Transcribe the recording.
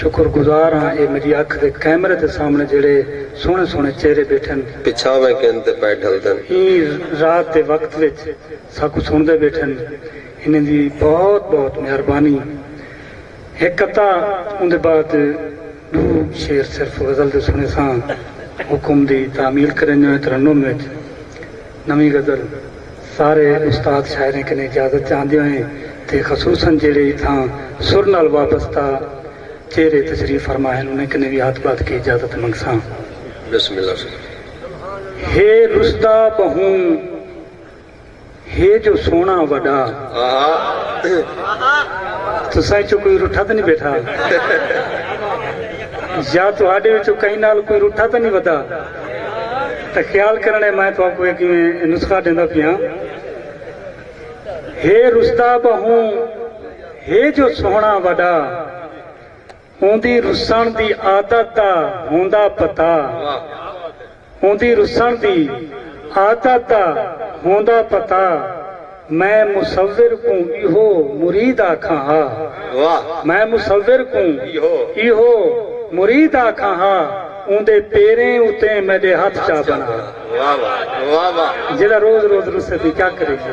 شکر گزار ہاں اے میڈی اکھ دے کیمرے دے سامنے جیڑھے سوہنے سوہنے چہرے بیٹھن۔ پچھاویں گھن تے پئے ڈھلدن۔ ایں رات دے وقت وچ ساکوں سنڑدے بیٹھن انہیں دی بہت بہت مہربانی۔ ہک قطعہ اوندے بعد ڈو شعر صرف غزل دے سنڑیساں حکم دی تعمیل کرینجویں ترنم وچ۔ نویں غزل سارے استاد شاعریں کنیں اجازت چاہندے ہوئیں تے خصوصا جیڑھے اتھاں سر نال وابستہ چہرے تشریف فرما ہن انہیں کنیں وی ہتھ بدھ کے اجازت منگساں۔ بسم اللہ سناں۔ ہے رسدا بہوں ہے جو سوہنڑاں وڈا۔ آہا۔ تساں اچوں کوئی رٹھا تاں نی بیٹھا۔ یا تہاڈے وچوں کہیں نال کوئی رٹھا تاں نی ودا۔ تاں خیال کرݨ اے میں تہاکوں اے کیویں نسخہ ݙیندا پیاں۔ ہے رسدا ٻہوں ہے جو سوہݨا وݙا اوندی رسݨ دی عادت دا ہوندا پتہ اوندی رسݨ دی عادت دا ہوندا پتہ۔ میں مصور کوں ایہو مرید آکھاں ہا۔ میں مصور کوں ایہو مرید آکھاں ہا اوندے پیریں اتیں میڈے ہتھ چا بنا۔ جیڑھا روز روز رسے تیں کیا کریجے۔